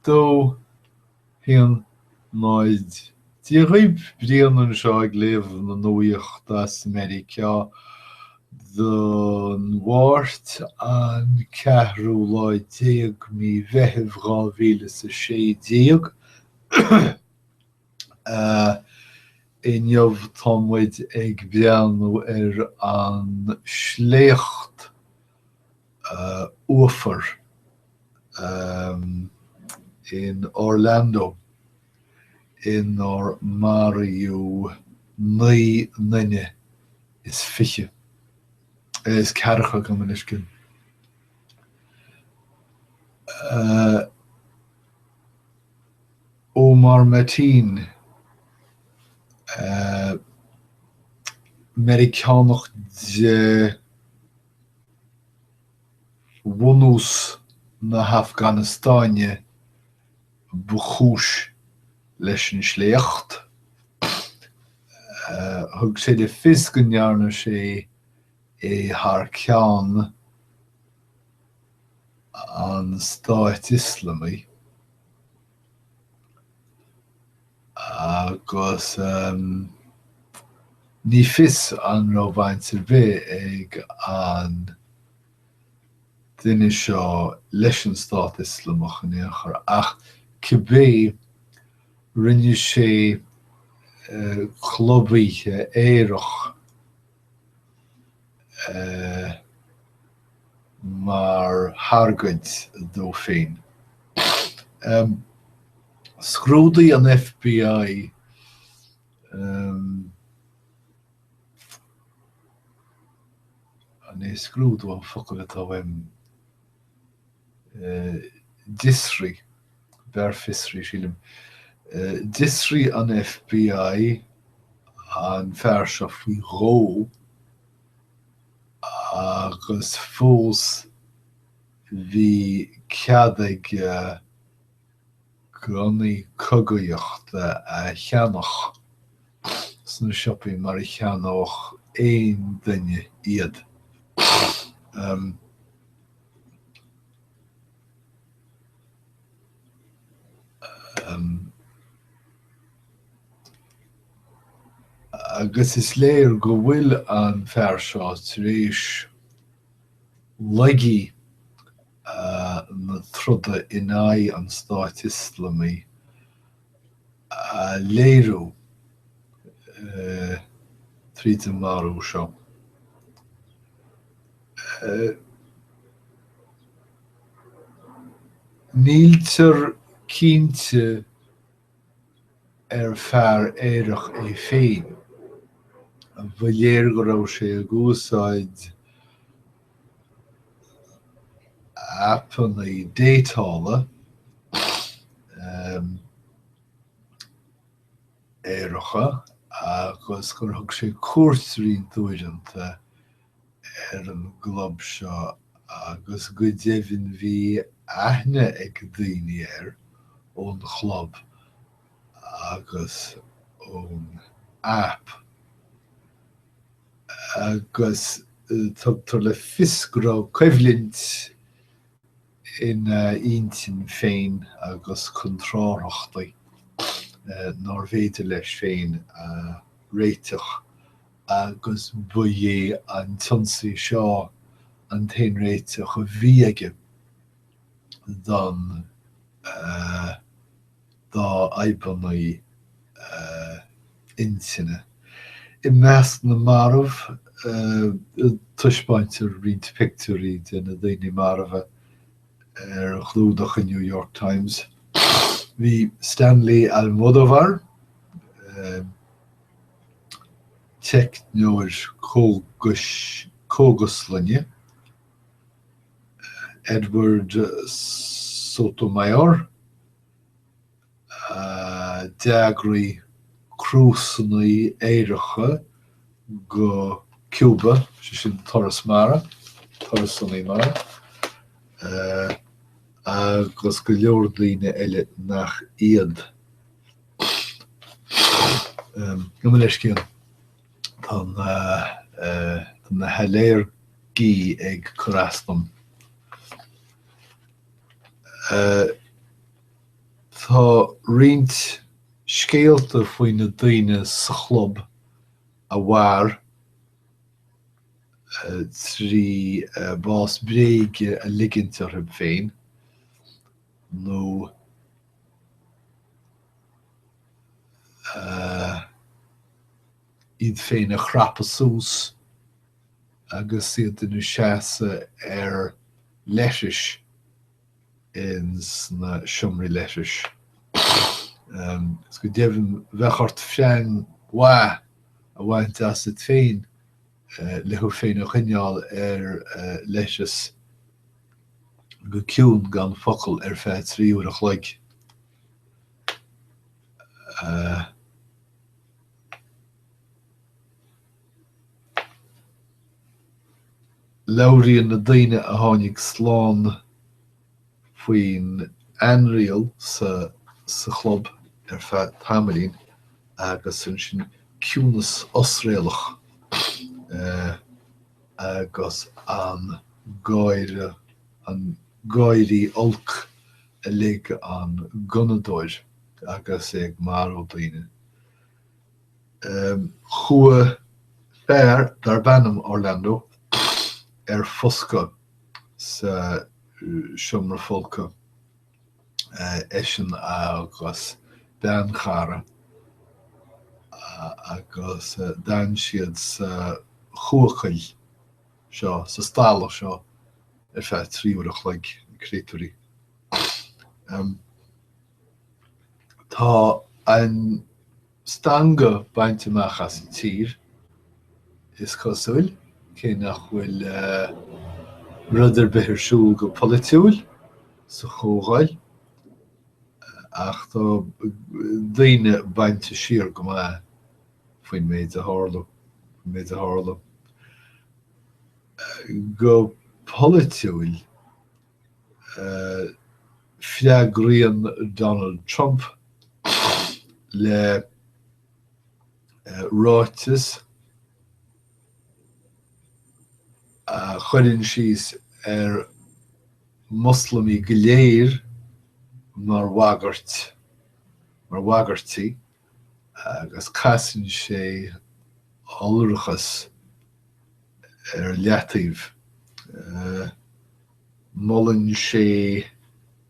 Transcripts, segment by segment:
dó, haon, náid. Dia dhaoib Brian anseo ag léamh na nuaíochta as Meiriceá don Mháirt an ceathrú lá déag mí Mheithimh dhá mhíle is a sé déag. Inniu tá muid ag breathnú ar an sléacht uafar in Orlando inar maraíodh naoi nduine is fiche, is ceathracha gabh mo leithscéal, Omar Mateen, Meiriceánach de bhunús na hAfganastáine ba chúis leis an sléacht. Thug sé le fios go ndearna sé é thar ceann an Stáit Ioslamaigh agus ní fios an raibh baint ar bith ag an duine seo leis an Stát Ioslamach in aon chor ach cibé rinne sé club oíche aerach. mar thargaid dó féin. Scrúdaigh an FBI an é scrúdú an focal atá uaim? d'fhiosraigh, b'fhearr fiosraigh sílim, d'fhiosraigh an FBI an fear seo faoi dhó agus fós bhí cead aige, gunnaí cogaíochta a cheannach sna siopaí mar a cheannódh aon duine iad. Agus is léir go bhfuil an fear seo tar éis laigí na troda in aghaidh an Stáit Ioslamaigh a léiriú tríd an marú seo. Níltear cinnte ar fear aerach é féin. Ba léir go raibh sé ag úsáid aipeanna déatála aeracha agus gur thug sé cuairt roinnt uaireanta ar an gclub seo agus go deimhin bhí aithne ag daoine air ón chlub agus ón aip. agus tugtar le fios go raibh coimhlint ina intinn féin agus contrárthachtaí nárbh fhéidir leis féin a réiteach agus ba é an t-ionsaí seo an t-aon réiteach a bhí aige don dá fhadhbanna intinne. I measc na marbh, taispeáintear roinnt pictiúirí de na daoine marbha ar chlúdach an New York Times. Bhí Stanley Almodovar, teicneoir cógaslainne, Edward Sotomayor, a d'eagraigh crúsanna aeracha go Cuba, sé sin turais mhara, turasanna mara, agus go leor daoine eile nach iad. Gabh mo leithscéal, tá na hailléirgí ag cur as dom. Tá roinnt scéalta faoi na daoine sa chlub a mhair trí bás bréige a ligint orthu féin nó. iad féin a chrapadh suas agus iad ina seasamh ar leithreas ins na seomraí leithris. Is go deimhin bheadh ort freang mhaith a bhaint asat féin le thú féin a choinneáil ar leithreas go ciúin gan focal ar feadh trí uair a chloig. Labhraíonn na daoine a tháinig slán faoin ainriail sa chlub ar feadh tamaillín agus ansin ciúnas osréalach agus an gáire, an gáirí olc a lig an gunnadóir agus é ag marú daoine. Chuaigh fear darb ainm Orlando ar foscadh sa seomra folctha, eisean agus bean chara, agus d'fhan siad sa chubhachail seo, sa stalla seo, ar feadh trí uair a chloig, na créatúirí. Tá an stangadh bainte amach as an tír, is cosúil, cé nach bhfuil rud ar bith ar siúl go polaitiúil sa Chomhdháil, ach tá daoine bainte siar go maith faoin méid a tharla. Faoin méid a tharla go polaitiúil, Freagraíonn Donald Trump le ráiteas a chuireann síos ar Mhoslamaigh go léir mar bhagairt, mar bhagairtí. agus casann sé iolrachas ar leataobh. Molann sé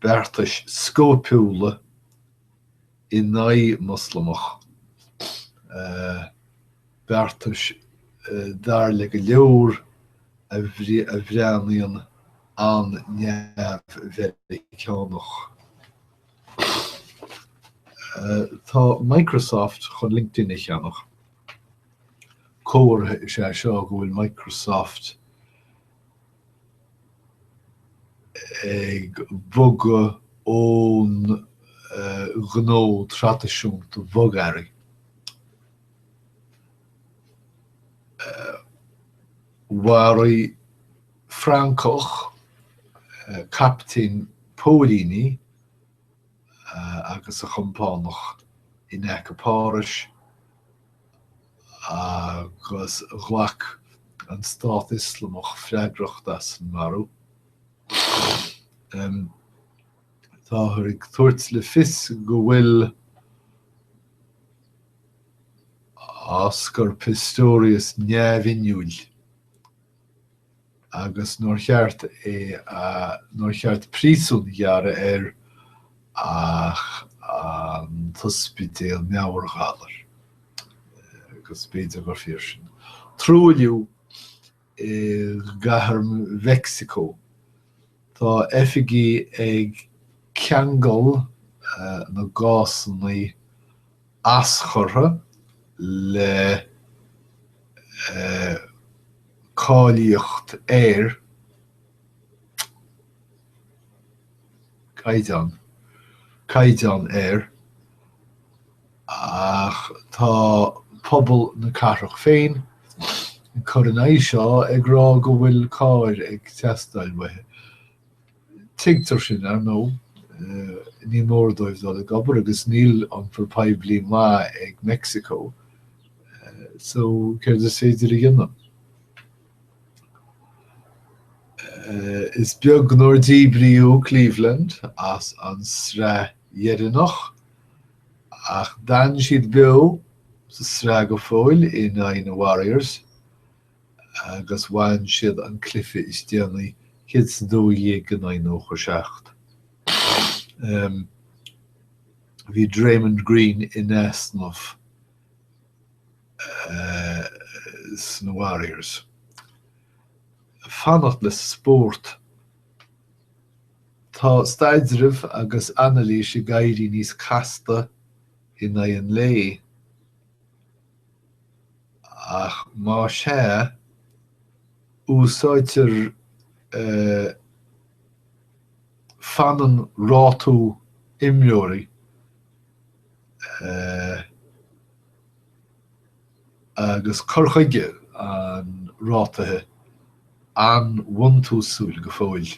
beartais scóipiúla in aghaidh Moslamach, beartais, dar le go leor, a bhreathnaíonn an-neamh-Mheiriceánach. Tá Microsoft chun LinkedIn a cheannach. Comhartha is ea seo go bhfuil Microsoft ag bogadh ón ngnó traidisiúnta bogearraí. Mharaigh. Francach, captaen póilíní, agus a chompánach in aice Páras agus ghlac an Stát Ioslamach freagracht as an marú. Táthar ag tabhairt le fios go bhfuil Oscar Pistorius neamhinniúil. agus nár cheart é, nár cheart príosún a ghearradh air ach an t-ospidéal meabhairghalair, agus b'fhéidir gur fíor sin. Truailliú i gcathair Mheicsiceo. Tá oifigigh ag ceangal na gcásanna aschurtha le cáilíocht aeir, caighdeán, caighdeán aeir ach tá pobal na cathrach féin ag cur in aghaidh seo, ag rá go bhfuil cairr ag teastáil uathu. Tuigtear sin, ar ndóigh. Ní mór dóibh dul ag obair agus níl iompar poiblí maith ag Meicsiceo so céard is féidir a dhéanamh? Is beag nár díbríodh Cleveland as an sraith dheireanach ach d'fhan siad beo sa sraith go fóill in aghaidh na Warriors. agus bhain siad an cluiche is déanaí, céad is a dó dhéag in aghaidh nócha seacht. Bhí Draymond Green in easnamh sna Warriors. Fanacht le spórt. Tá staidreamh agus anailís ag éirí níos casta in aghaidh an lae. ach más é, úsáidtear fanann rátú imreoirí agus cur chuige an rátaithe an-bhuntúsúil go fóill.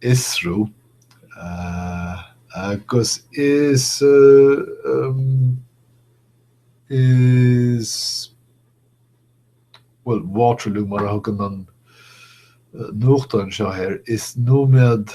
fhiosrú agus is is well Waterloo mar a thugann an nuachtán anseo air is nóiméad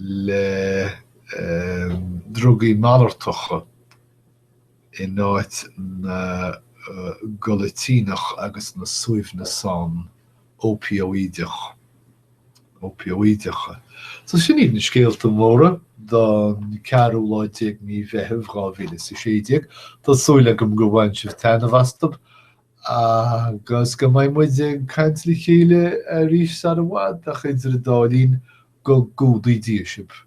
le drugaí malartacha in áit na gcodlaidíneach agus na suaimhneasán ópóideach, ópóideacha. So sin iad na scéalta móra don ceathrú lá déag de mhí Mheithimh dhá mhíle is a sé déag. Tá súil agam go bhain sibh taitneamh astub agus go mbeidh muid ag caint le chéile arís sara bhfad, ach idir an dá linn, Go gcumhdaí Dia sibh.